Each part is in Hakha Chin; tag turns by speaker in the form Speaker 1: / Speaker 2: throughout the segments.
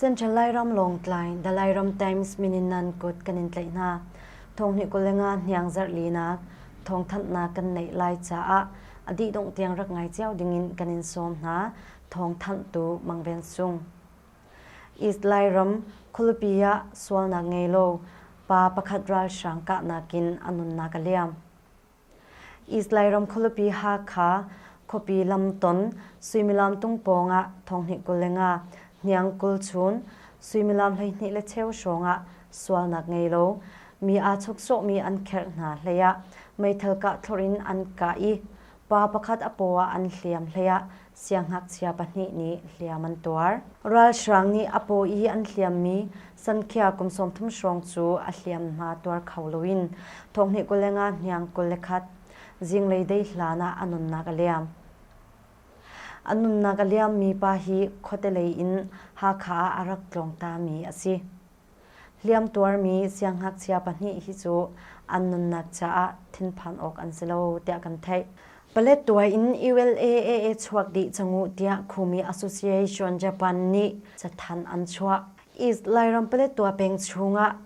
Speaker 1: Central Lairam Lawngtlai, The Lairam Times mininan kut kan in tlaih hna. Thonghni kul le nga hniang zarhlinak thawngthanhnak kan neih lai caah a dih dongh tiang rak ngai cio dingin kan in sawm hna. Thawngthanh tu Mang Ven Sung. East Lairam khulipi ah sualnak ngei lo pa pakhat ralhrang kahnak in a nunnak a liam. Islay ram khualupi Hakha khuapi lamton suimilam tung pawng ah thonghnih kul le nga, hniang kul chun, suimilam hleihnih le cheu hrawng ah sualnak ngei lo mi aa chuksawhmi an kherh hna hleiah meithal kah thlawrh in an kah i pa pakhat a paw ah an hliam hleiah Siangngakchia pahnih nih hliam an tuar. Ralhrang nih a paw i an hliammi Sankhya kum sawmthum hrawng cu a hliamhma tuar kho loin thonghnih kul le nga hniang kul le khat zinglei dei hlan ah a nunnak a liam. A nunnak a liammi pa hi khuate lei in Hakha ah a rak tlawng tami a si. Hliamtuarmi siangngakchia pahnih hi cu an nunnak caah thinphan awk an si lo tiah kan theih. Paletwa in ULAAA chuak dih cang uh tiah Khumi Association Japan nih cathan an chuah. East Lairam Paletwa peng chungah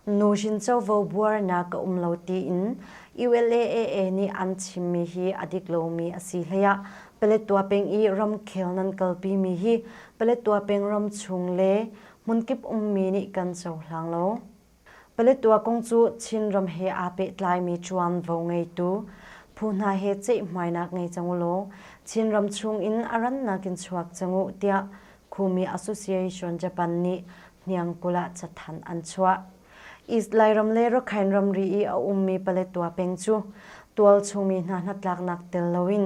Speaker 1: nu shin covo buarnak a um lo tiin ULAAA nih an chimmi hi a dik lomi a si hleiah Paletwa peng i ramkhel nan kalpimi hi Paletwa peng ram chung le hmunkip ummi nih kan cohlang lo. Paletwa kong cu Chinram he aa pehtlaimi ṭuanvo ngeitu phu hna he ceihhmainak ngei cang u law Chinram chungin a rannak in chuak cang u tiah Khumi Association Japan nih Hniangkulh ah cathanh an chuah. East Lairam le Rakhine ramri i a ummi Paletwa peng cu tualchungmi hna hnatlaknak tel loin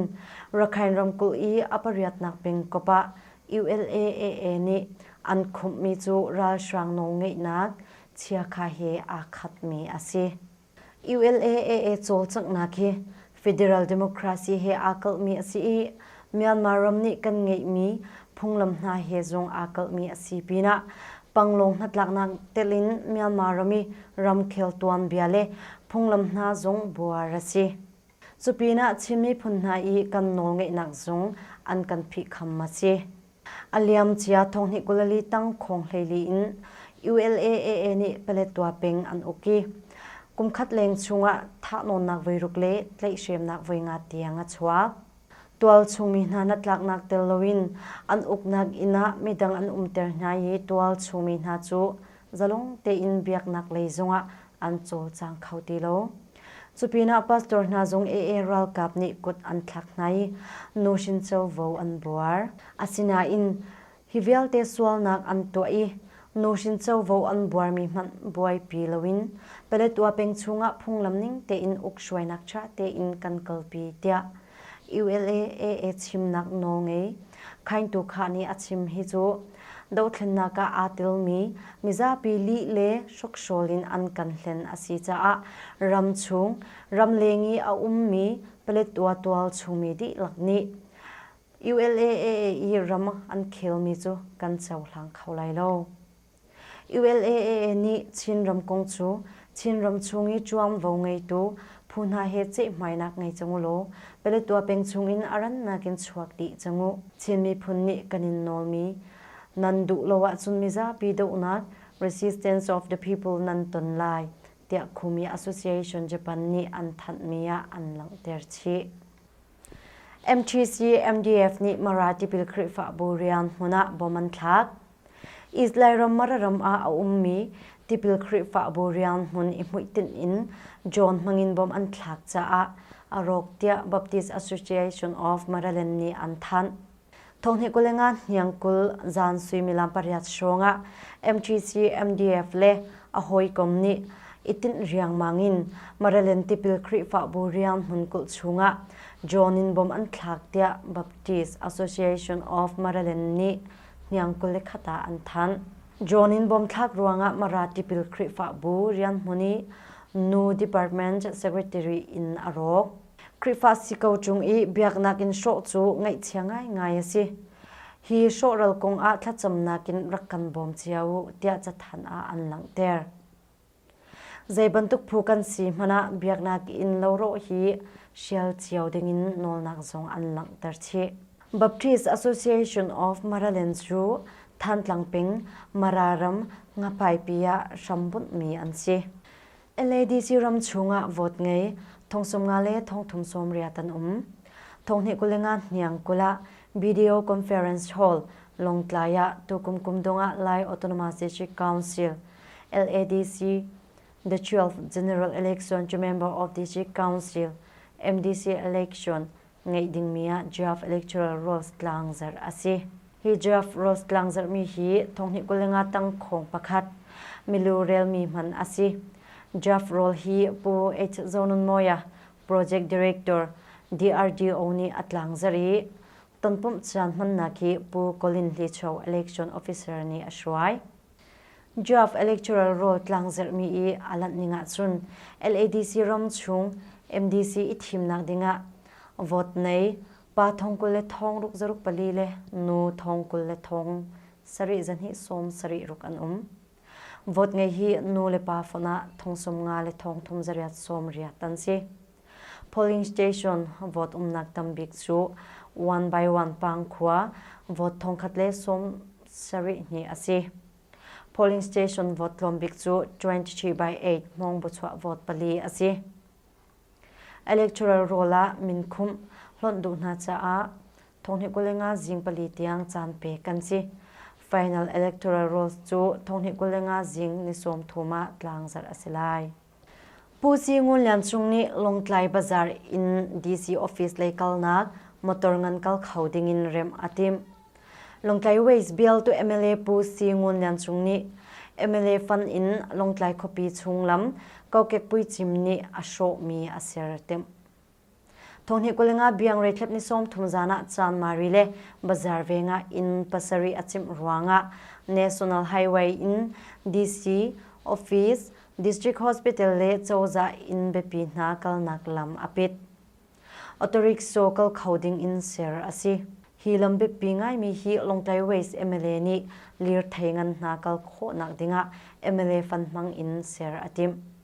Speaker 1: Rakhine ramkulh i a pariatnak pengkop ah ULA-AA nih an khumhmi cu ralhrang nawlngeihnak chiakha he aa khatmi a si. ULA-AA cawlcanghnak hi federal democracy he aa kalhmi a si i Myanmar ram nih kan ngeihmi phunglam hna he zong aa kalhmi a si pinah Panglong hnatlaknak telin Myanmar ram i ramkhel tuanbia le phunglam hna zong buar a si. Cupinah Chin miphun hna i kan nawlngeihnak zung an kan phihkham a si. A liam cia thonghnih kulali tang khawng hleili in ULAAA nih Paletwa peng an uk i kumkhat leng chungah thahnawnnak voiruk le tlaihhremnak voi nga tiang a chuak. Tualchungmi hna hnatlaknak tel loin an uknak inn ah midang an umter hna i tualchungmi hna cu zalong tein biaknak lei zongah an cawlcang kho ti lo. Cupinah pastor hna zung ee ralkap nih kut an thlak hna i nuhrin covo an buar. Asinain hi vialte sualnak an tuah i nuhrin covo an buarmi hmanh buaipi loin Paletwa peng chungah phunglam ning tein uk hruainak ṭha tein kan kalpi tiah ULAAA chimnak nawl ngei Khaingtu Kha nih a chim hi cu dothlennak ah aa telmi mizapi lih le hrukhrawl in an kan hlen a si caah ram chung ramleng i a ummi Paletwa tual chungmi dihlak nih ULAAA i ram an khelmi cu kan cohlang kho lai lo. ULAA nih Chinram kong cu Chinram chung i ṭuanvo ngeitu phu hna he ceihhmainak ngei cang u law Paletwa peng chungin a rannak in chuak dih cang u. Chin miphun nih kan in nawlmi nan duh lo ahcun mizapi dohnak, resistance of the people, nan ton lai, tiah Khumi Association Japan nih an thanhmi ah an langhter chih. MTC MDF nih Mara tipil Khrihfabu rian hmun ah bom an thlak. Israel ram Mararam ah a ummi tipil Khrihfabu rianhmun i hmuitinh in John hmangin bawmh an thlak caah a rawk tiah Baptist Association of Maryland nih an thanh. Thonghni kul le nga hniang kul zan suimilam pariat hrawngah MTC MDF le a hawikom nih itinh riangmang in Maryland tipil Khrihfabu rianhmun kulh chungah John in bawmh an thlak tiah Baptist Association of Maryland nih hniang kule khat ah an thanh. John in bawmthlak ruangah Mara tipil Khrihfabu rianhmun i nu department secretary in a rawk. Khrihfa si ko chung i biaknak in hrawh cu ngaihchia ngaingai a si. Hi hrawhral kong ah thlacamnak in rak kan bawm cio u tiah cathan ah an langhter. Zeibantuk phu kan si hmanh ah biaknak in lorawh hi hrial cio dingin nawlnak zong an langhter chih. Baptist Association of Maraland cu Thantlang ping Mararam ngapaipi ah hrambunhmi an si. LADC ram chungah vote ngei thongsum nga le thongthum sawmriat an um. Thonghni kulenga hniang kula video conference hall Longtlai ah tukum kumdong ah Lai Autonomous District Council LADC, the 12th General Election cu member of District Council, MDC election, ngeih dingmi ah draft electoral rolls tlangzarh a si. Hi draft rolls tlangzarhmi hi thonghnih kul le nga tang khawng pakhat milu relmi hman a si. Draft roll hi Pu H. Zonunmawia, Project Director, DRDO nih a tlangzarh i tonpumh cian hmannak hi Pu Colin Hlicho election officer nih a hruai. Draft electoral roll tlang zerhmi i a lanh ning ahcun LADC ram chung MDC i thimnak dingah vote nei pa thong kul le thong ruk zaruk pali le nu thong kul le thong sarih zahnih sawm sarih ruk an um. Vote ngei hi nu le pa fon ah thong sum nga le thong thum zariat sawm riat an si. Polling Station vote umnak tam bik cu One by One Pangkhua vote thongkhat le sawm sarih hnih a si. Polling Station vote tlawm bik cu 23 by 8 hmawng buchuah vote pali a si. Electoral roll ah min khumh hlonh duh hna caah Thonghni kul le nga zing pali tiang caan pe kan si. Final electoral rolls cu Thonghni kul le nga zing ni sawm thum ah tlangzarh a si lai. Pu Ci Ngun Lian Cung nih Lawngtlai Bazaar in DC office lei kalnak motor ngan kal kho ding in remh a timh. Lawngtlai Ways Bill tu MLA Pu Si Ngun Lian Cung nih MLA fan in Lawngtlai khuapi chung lam kokek puicim nih a hrawhmi a ser a timh. Thawhni kul nga biang reitlep ni sawm thum zan ah Chanmari le Bazar veng ah inn pasarih a cimh ruangah National Highway in DC office, District Hospital le cozah inn biapi hna kalnak lam a pit. Autorikshaw kal kho ding in ser a si. Hi lam biapi ngaimi hi Lawngtlai West MLA nih lirthei ngan hna kal khawhnak dingah MLA fanhmang in ser a timh.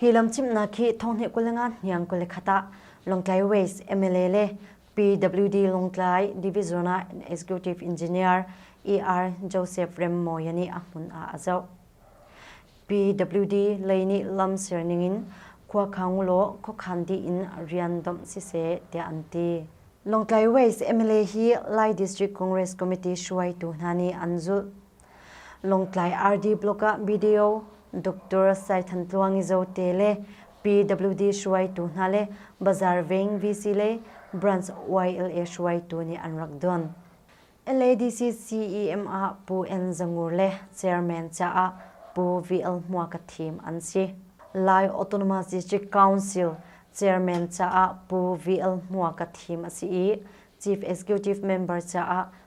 Speaker 1: Hi lam chimhnak khi thonghnih kul le nga hniang kul le khat ah Lawngtlai West MLA le PWD Lawngtlai Division ah Executive Engineer ER Joseph Remmawi nih a hmun ah a zoh. PWD lei nih lam serning in Khuakhang law khuakhan dih in rian domh siseh tiah an ti. Lawngtlai West MLA hi Lai District Congress Committee hruaitu hna nih an zulh. Lawngtlai RD Block ah video Doctor Sai Than Tluangi Zote le PWD hruaitu hna le Bazaar Veng VC le Branch YLA hruaitu nih an rak don. LADC CEM ah Pu N Zangur le Chairman caah Pu VL Hmua ka thim an si. Lai Autonomous District Council Chairman caah Pu VL Hmua ka thim a si i Chief Executive Member caah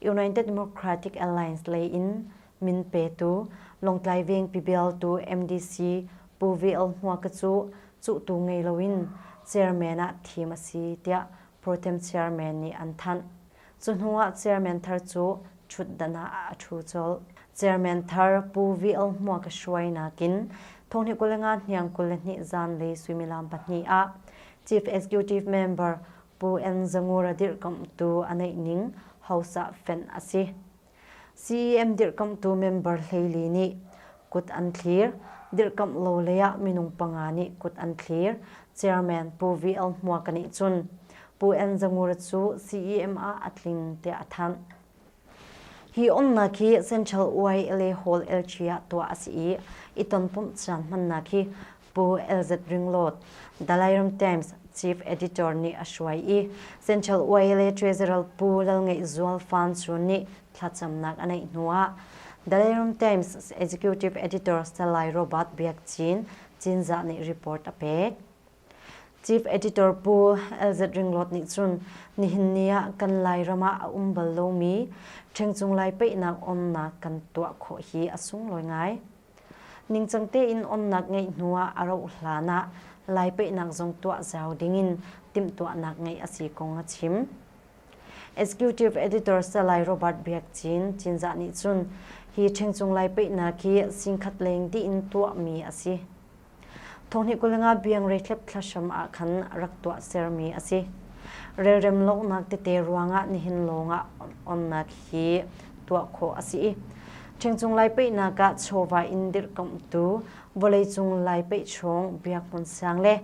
Speaker 1: United Democratic Alliance lei in min petu Lawngtlai Vengpi bialtu MDC Pu VL Hmua Ka cu cuhtu ngei loin chairman ah thim a si tiah Pro-Tem chairman nih an thanh. Cu hnu ah chairman thar cu ṭhutdan ah a ṭhu colh. Chairman thar Pu VL Hmua Ka hruai nakin Thawngni kul le nga hniang kul le hnih zan le suimilam pahnih ah Chief Executive Member Pu Enzangur a dirhkamhtu a neih ning Housah fenh a si. CEM dirhkamhtu member hleili nih kut an thlir, dirhkamh lo lei ah minung panga nih kut an thlir, Chairman Pu VL Hmuaka nih cun Pu Enzangur cu CEM ah a tling tiah a thanh. Hi umnak hi Central YLA Hall LG ah tuah a si i i tonpumh caan hmannak hi Pu LZ Ringlawt, Dalai Ram Times chief editor nih a hruai i Central YLA Treasurer Pu Lalngeihzual Fansu nih thlacamnak a neih hnuah Dalai Ram Times executive editor Salai Robert Biak Cin Cinzah nih report a pek. Chief Editor Pu LZ Ringlawt nih cun nihin ni ah kan Lairam ah a um bal lomi ṭhengcung lai peihnak onnak kan tuah khawh hi a sunglawi ngai. Ningcang tein onnak ngeih hnu ah a rauh hlan ah Lai peihnak zong tuah zau dingin timhtuahnak ngeih a si kong a chim. Executive Editor Salai Robert Biak Cin Cinzah nih cun hi ṭhengcung lai peihnak hi singkhat leng dih in tuahmi a si. Thawhni kulenga biangrei thlepthla hram ah khan rak tuah sermi a si. Relrem lawngnak tete ruangah nihin lawngah onnak hi tuah khawh a si i ṭhengcung lai peihnak ah chawva in dirhkamhtu vawleicung lai peih chung biak hmun sang le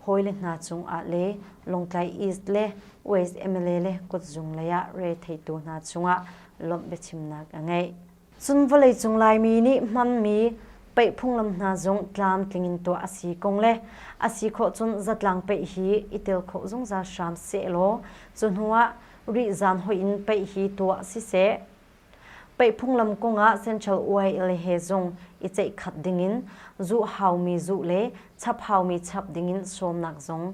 Speaker 1: hawile hna cungah le Lawngtlai East le West MLA le kutzung leiah re theitu hna cungah lawmh biachimnak a ngei. Cun vawleicung Laimi nih hmanmi peih phunglam hna zong tlamtling in tuah a si kong le a si khawh cun zatlang peih hi i tel kho zungzal hram seh law cu hnuah rihzan hoih in peih hi tuah siseh. Peih phunglam kongah Central UIL he zong i ceihkhat dingin zuh haumi zuh le chap haumi chap dingin sawmnak zong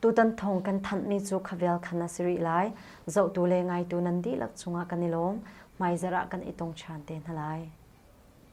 Speaker 1: Tutan thawng kan thanhmi cu khavel khan a si rih lai. Zohtu le ngaitu nan dihlak cungah kan i lawm. Hmaizarh ah kan i tong ṭhan te hna lai.